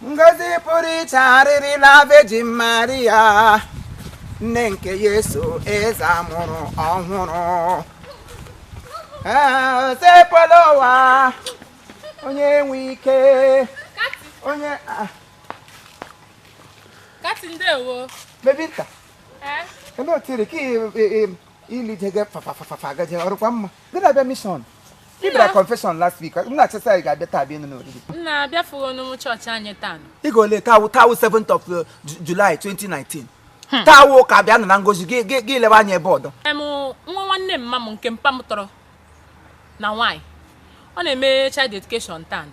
ngozi pụrụ iche arịrịla Virgin Maria nne nke Yesu eze a mụrụ ọhụrụ osepụla ụwa onye nwe ike onye kati ndewo bebi nta ebe otiri ka ilije gị fafafafa gaje ọrụkwa mma gị na-abịa mishọn ị bịara confession last week m na-eche sị ị ga-abịa taa bịa ịnọ n'oriri nna abịafughị n'ụlọ chọọchị anyị taa nụ. ị ga-ole taa wụ taa wụ 7th of uh, Ju- July 2019 taa wụ ụka bịa nụ na ngozi gị gị- gị lebe anya ebe ọdọ Em, nwa nwanne mma m nke mpa m tọrọ na nwaanyị ọ na-eme child dedication taa nụ.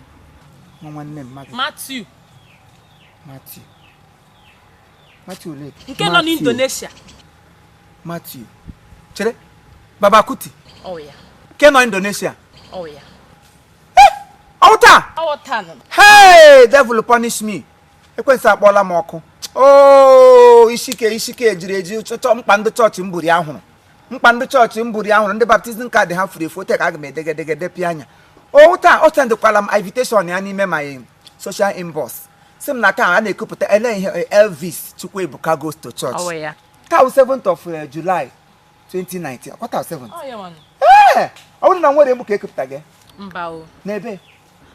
nwa nwanne mma gị Matthew Matthew Matthew Lake. nke nọ n'Indonesia Matthew chere Babakuti ọ wụ ya nke nọ Indonesia ọ wụ ya ọ wụ taa ọ wụ taa nọ hey devil punish me ekwensu akpọọla m ọkụ oo isi ike isi ike e jiri eji chọchọ mkpa ndị chọọchị m buri ahụrụ mkpa ndị chọọchị m buri ahụrụ ndị baptizim kaadị ha furu efu ote ka aga m edegedegede pịa anya ọ wụ taa ọ sendịkwala m invitation ya n'ime my social inbox sị m na taa a na-ekupụta ele ihe eh, elvis chukwuebuka goes to church Ọ wụ ya. taa wụ 7th of eh, july 2019 ọkwa taa wụ 7th Ọ ya nwanụ. ee ọ bụrụ na nwere egbu ka e kupụta gị mba o n'ebe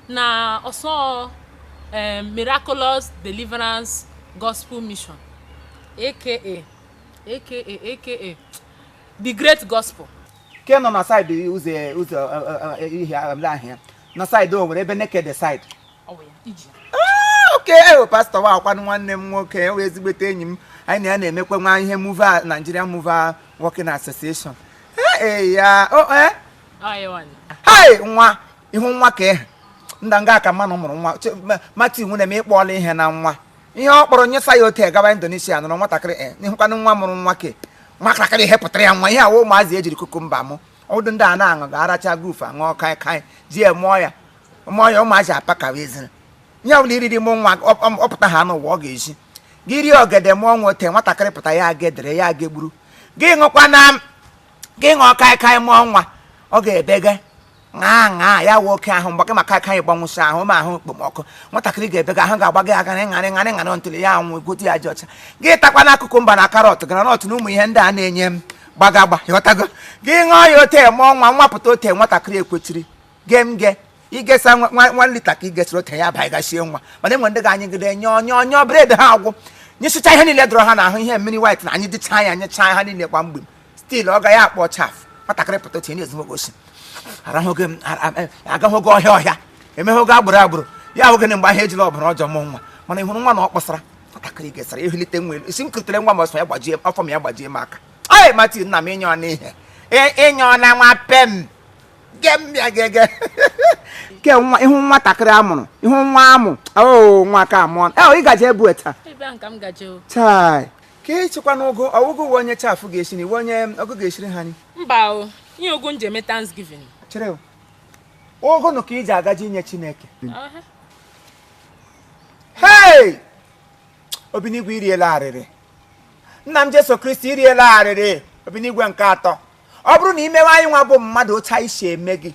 na ọsọ eh, miraculous deliverance gospel mission aka aka aka the great gospel ke nọ na saịdị ụzọ ụzọ eh, eh, eh, ihe ahịa na saịdị Owere ebe Nekede saịdị Ah, okay eh, pastọ wa akwanụ nwanne m nwoke ewe ezigbote enyi m anyị na ya na-emekwa nwa ihe muva Nigeria muva working association ee eh, ya o oh, eh? hai nwa ihu nwa ka ehe nda nga aka mmanụ mụrụ nwa Matthew nwanne m ịkpọọla ihe na nwa ihe ọ kpọrọ nyesa ya ote gawa Indonesia nụrụ nwatakịrị e n'ihụkwanụ nwa mụrụ nwa ke nwatakịrị ihe pụtara ya nwa ihe a wụ ụmụazị e jiri kukumba mụ ọdụ ndị a na-aṅụ ga-aracha groove aṅụọ kaikai ji ya mụọ ya ma ọnya ụmụazị apakawa ezina ihe ọ bụla i riri mụọ nwa ọ pụta ha n'ụwa ọ ga-esi gị rie ogede mụọ nwa ote nwatakịrị pụta ya aga edere ya aga egburu gị ṅụkwa na gị ṅụọ kaikai mụọ nwa ọ ga-ebega ṅaa ṅaa ya wee oke ahụ mgbe gị maka aka anyị gbanwụsị ahụ ma ahụ okpomọkụ nwatakịrị ga-ebega ahụ ga-agba gị agara ịṅarị ṅarị ṅarị ntụli ya anwụ gote ya ji ọcha gị takwa n'akụkụ mba na karọt granọt na ụmụ ihe ndị a na-enye m gbagagba ị ghọtago gị ṅụọ ya ote mụọ nwa nwa pụta ote nwatakịrị ekwetiri gee m gee igesa nwa- nwa nwa lita ka igesịrị otere ya abaghị gachie nwa mana e nwee ndị ga-anyịgide nyọọ nyọọ nyọọ breath ha agwụ nyesịcha ihe niile dọrọ ha n'ahụ ihe mmiri wit na anyị dịcha ya nyechaa ha niile kwa mgbe still ọ gaghị akpọ chaf nwatakịrị pụta otu na-ezu nwoke osi arahụghị m a- a- a- agaghịghị ọhịa ọhịa emeghịghị agbụrụ agbụrụ ya ahụghị na mgbe ahụ ejila ọbara ọjọọ mụ nwa mana ị hụrụ nwa na ọ kpọsara nwatakịrị gesara ehulite nwa elu isi m kụtere nwa m ọsọ ya gbajie afọ m ya gbajie m aka ee mati nna m ịnyọọ n'ihe ịnyọọla nwa pem ke nwa ihu nwatakịrị a mụrụ ihu nwa amụ oo nwa ka amụọ e ị gaje ebu taa chai ka ịchịkwa n'ụgụ ọ wụ ụgụ uwe onye chafụ ga-esi na iwe onye ọgụ ga-esiri ha nri mba o ihe ọ ga-eji eme thanksgiving chịrị ụgụ nụ ka ị ji agaje inye chineke hei obinigwe iriela arịrị nna m jesu kristi iriela arịrị obinigwe nke atọ ọ bụrụ na i mewe anyị nwa bụ mmadụ otu anyị si eme gị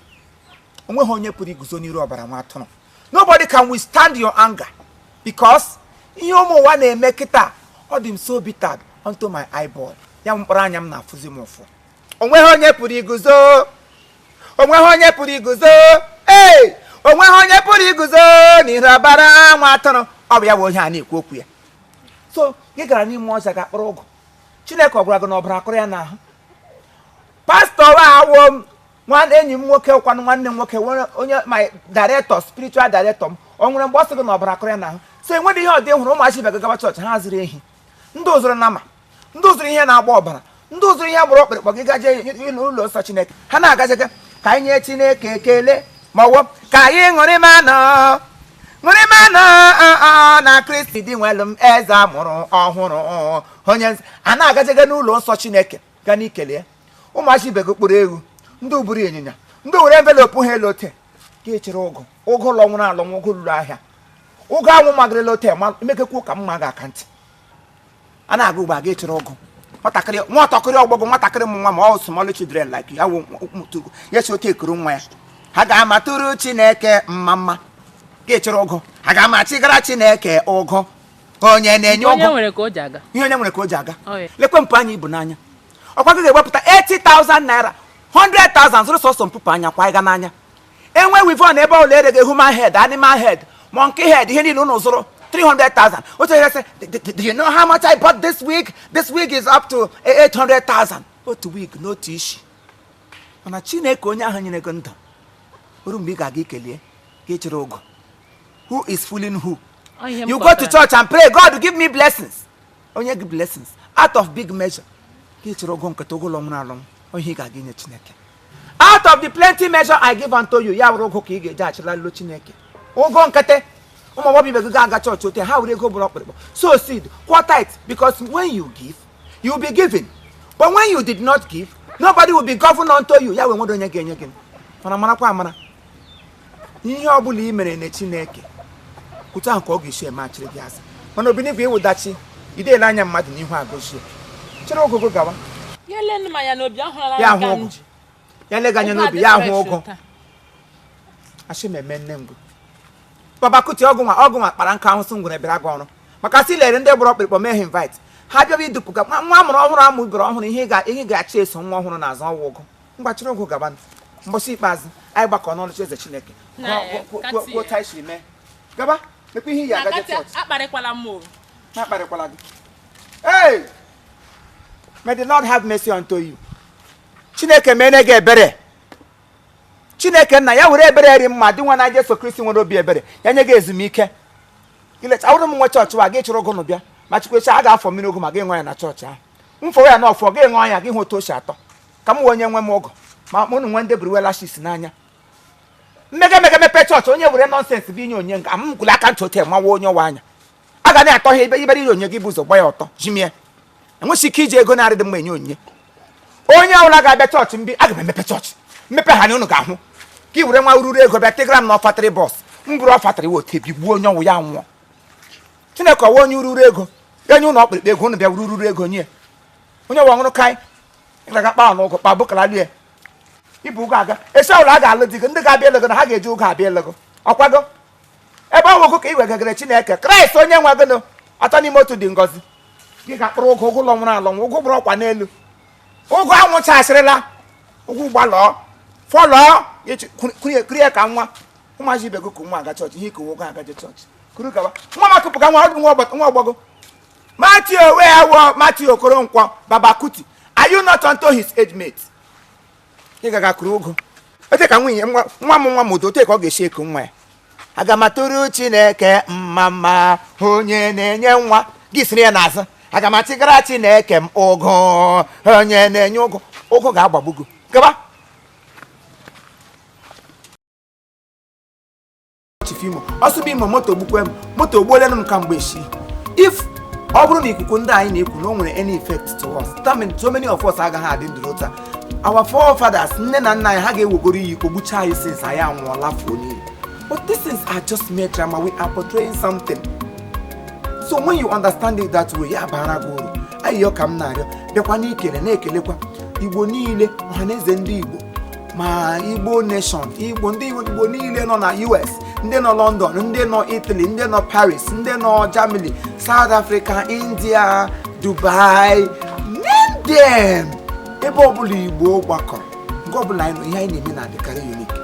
onweghị onye pụrụ iguzo n'iru ọbara nwa atụrụ nobody can withstand your anger because ihe ụmụ ụwa na-eme kịta ọ dị m so bitter unto my eyeball ya mkpụrụ anya m na-afụzi m ụfụ onweghị onye pụrụ iguzo onweghị onye pụrụ iguzo ee onweghị onye pụrụ iguzo n'iru ọbara nwa atụrụ ọ bụ ya bụ onye a na-ekwu okwu ya so gị gara n'ime ọzọ ga kpọrọ ụgụ chineke ọ gwara gị na ọbara kọrọ ya n'ahụ pastọ awo m nwanne enyi m nwoke kwanụ nwanne m nwoke onye my director spiritual director m o nwere mgbe ọ sị gị na ọbara kọrọ ya n'ahụ so enweghị ihe ọ dị hụrụ ụmụazị ibe gị agaba chọọchị ha zụrụ ehi ndị zụrụ nama ndị zụrụ ihe na-agba ọbara ndị zụrụ ihe gbara ọkpụrụkpụ ji gaje n'ụlọ nsọ chineke ha na-agajega ka anyị nye chineke ekele ma ọ wụ ka anyị ṅụrịmanụ ṅụrịmanụ na kristi dinwenụ m eze a mụrụ ọhụrụ onye nz- a na-agajega n'ụlọ nsọ chineke ga n'ikele ya ụmụazị ibe gị kpụrụ ewu ndị buru ịnyịnya ndị were envelope ha lee ote gị chịrị ụgụ ụgụ lọnwụrụ alọnwụ ụgụ lọrọ ahịa ụgụ anwụ magarịla ote ma emekekwu ka mma ga aka ntị a na-aga ugbu a gị achịrị ụgụ nwatakịrị nwatakịrị ọgbọgọ nwatakịrị m nwa ma ọ small children like ya wụ mụtụgo ya si otu ekuru nwa ya ha ga-amatụrụ chineke mma mma gị achịrị ụgụ aga m achịgara chineke ụgụ onye na-enye ụgụ ihe onye nwere ka o ji aga lekwe mpụ anya i bu n'anya ọ kwa gị ga-ewepụta 80,000 naira 100,000 zụrụ sọsọ mpụpụ anya kwa ịga n'anya e nwee weavon ebe a na-ere gị human head animal head monkey head ihe niile unu zụrụ 300,000 otu onye sị do you know how much I bought this wig this wig is up to 800,000 otu wig n'otu isi mana chineke onye ahụ nyere gị ndụ o ruo mgbe ị ga-aga ikele ya ka ị chịrị ụgụ who is fooling who you go to church and pray God give me blessings o nye gị blessings out of big measure ka ị chịrị ụgụ nkịtị ụgụ lọnwụrụ alọnwụ ị ga-aga inye chineke out of the plenty measure I give unto you ya wụrụ ụgụ ka ị ga-eji achịlara Chineke ụgụ nkịtị ụmụ agbọghọ ibe gị ga-aga chọọchị ote ha were ego bụrụ ọkpụrụkpụ sow seed kwụọ tithe because when you give you will be given but when you did not give nobody will be given unto you ya wee nwere onye ga-enye gị mara marakwa amara ihe ọ bụla i mere na chineke otu ahụ ka ọ ga-esi emechiri gị azụ mana obinigwe ịwụdachi idele anya mmadụ n'ihu agazie chịrị ụgụ gawa ya ele m anya n'obi ahụ ọla Ya m ka hụ m ụgụ. ji ya lega anya ụgụ n'obi ya adịrị ahụ fresh ụgụ taa. asị m eme nne ngụ baba kuti ụgụ nwa ụgụ nwa kpara nka ahụ sị ngwere bịara gị ọrụ maka sị lere ndị gbara ọkpụrụkpụ mee ha invite ha bịaba idupụga nwa nwa a mụrụ ọhụrụ amụ bere ọhụrụ ihe ị ga- ihe ị ga-achị eso nwa ọhụrụ n'azụ ọ wụ ụgụ ngwa chịrị ụgụ gaba mbọsị ikpeazụ anyị gbakọ n'oche eze chineke kwuo otu i si mee gaba mekwa ihe iyi agaje chọọchị akparịkwala m akparịkwala gị hey may the lord have mercy unto you chineke mere gị ebere chineke nna ya were ebere ri mma dị nwa na jesu kristi nwere obi ebere ya nye gị ezumike ileta ọ wụrụ m nwe chọọchị wa gị chịrị ụgụ nụ bịa ma chukwecha a ga-afọ mmiri ụgụ ma gị ṅụọ ya na chọọchị ahụ m fọwe ya na ọfọ gị ṅụọ ya gị hụ otu o si atọ ka m wee onye nwe m ụgụ ma mụ na nwe ndị buru eyelashes n'anya m mega emega mepe chọọchị onye were nonsense bịa inye onyinye aga m kụrụ aka ntị otu mawa onye ọwa anya a ga na-atọ ha ibe ibere inye onye gị bụ ụzọ gba ya ọtọ jimie enweghị ike iji ego na-adịghị mma enye onyinye onye ọbụla ga-abịa chọọchị mgbe aga m emepe chọọchị m mepe ha na unu ga-ahụ ka ị were nwa ururu ego bịa tịgara m na offertory box m buru offertory wote bigbuo onye ọ wụ ya nwụọ chineke ọ wụ onye ururu ego enye ụlọ ọkpụrụkpụ ego unu bịa ururu ego nye onye ọwa ọṅụrụ kaị ị gaga kpaa n'ụgụ kpa bụkara lie ibu ụgụ aga esi ọbụla a ga-alụ di gị ndị ga-abịa ele gị na ha ga-eji ụgụ abịa ele gị ọ kwa gị ebe ọ wụ ụgụ ka i wegagara chineke kraịst onye nwe gịnụ atọ n'ime otu dị ngọzi gị ga-akpụrụ ụgụ ụgụ ụlọ nwụrụ alọ ụgụ gbụrụ ọkwa n'elu ụgụ anwụchasịrịla ụgụ gbalọọ fọlọọ kurie ka nwa ụmụazị ibe gị ku nwa aga chọọchị ihe i ku wụ ụgụ agaje chọọchị kuru gawa nwa ma kupụga nwa ọ bụ nwa ọgbọ gị Matthew Oweawo Matthew Okoronkwo Babakuti are you not unto his age mate? ị gaga kuru ụgụ ote ka nwunye nwa nwa m nwa m otu ote ka ọ ga-esi eku nwa ya aga m atụrụ chineke mma mma onye na-enye nwa gị siri ya n'azụ aga m achịgara chineke m ụgụ onye na-enye ụgụ ụgụ ga-agbagbu gị gaba chief imo ọsụbụ imo moto gbukwe m moto ogbuolenụ m kamgbe echi if ọ bụrụ na ikuku ndị anyị na-ekwu na o nwere any effect to us that means so many of us agaghị adị ndụ taa our forefathers nne na nna anyị ha ga-ewegoro iyi kpọgbuchaa anyị since anyị anwụọla fuo n'iyi but these things are just mere drama we are portraying something so when you understand it that way ya bara gị uru ayịyọ ka m na-arịọ bịakwa n'ikele na-ekelekwa igbo niile ọhaneze ndị igbo ma igbo nation ndị igbo niile nọ na us ndị nọ london ndị nọ italy ndị nọ paris ndị nọ germany south africa india dubai name them ebe ọbụla igbo gbakọrọ nke ọbụla anyị nọ ihe anyị na-eme na-adịkarị unique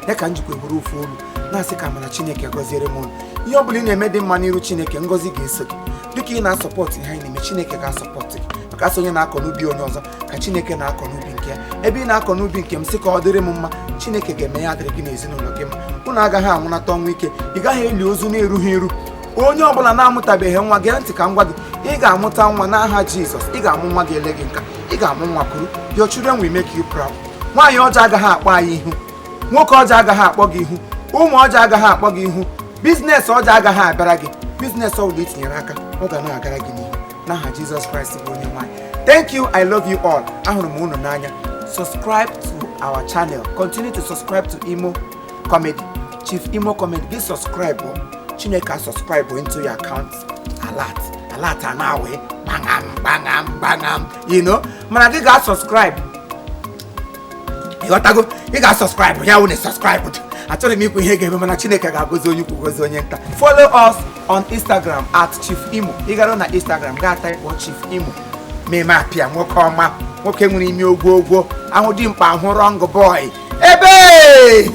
ya ka m jikwa bụrụ ofu olu na-asị ka mana chineke gọziere m unu ihe ọbụla ị na-eme dị mma n'iru chineke ngọzi ga-eso gị dịka ị na-asọpọtụ ihe anyị na-eme chineke ga-asọpọtụ gị maka a sị onye na-akọ n'ubi onye ọzọ ka chineke na-akọ n'ubi nke ya ebe ị na-akọ n'ubi nke m sị ka ọ dịrị m mma chineke ga-eme ya adịrị gị n'ezinụlọ gị mma unu agaghị anwụnata ọnwụ ike ị gaghị eli ozu na-erughị eru onye ọbụla na-amụtabeghị nwa gee ntị ka m gwa gị ị ga-amụta nwa n'aha jizọs ị ga-amụ nwa gị ele gị nka ị ga-amụ nwa kuru your children will make you proud nwaanyị ọjọọ agaghị akpọ anyị ihu nwoke ọjọọ agaghị akpọ gị ihu ụmụ ọjọọ agaghị akpọ gị ihu biznes ọjọọ agaghị abịara gị biznes ọbụla i tinyere aka ọ ga na-agara gị n'ihu n'aha jizọs kraịst bụ onye nwe anyị thank you i love you all ahụrụ m unu n'anya subscribe to our channel continue to subscribe to imo comedy chief imo comedy gị subscribe o chineke a subscribe o into your account alert alert a na-awe gbangam gbangam gbangam you know mana gị ga-subscribe ịghọtago ị ga-subscribe ya wụ na subscribe achọrọ m ikwu ihe ga-eme mana chineke ga-agọzi onye ukwu gozi onye nta follow us on instagram at chief imo ị gara na instagram gaa type chief imo meme apịa nwoke ọma nwoke nwere imi ogwo ogwo ahụ dimkpa ahụ wrong boy ebe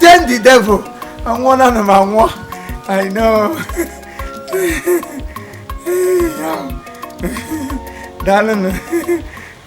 then the devil anwụọ na m anwụọ i know daalụnụ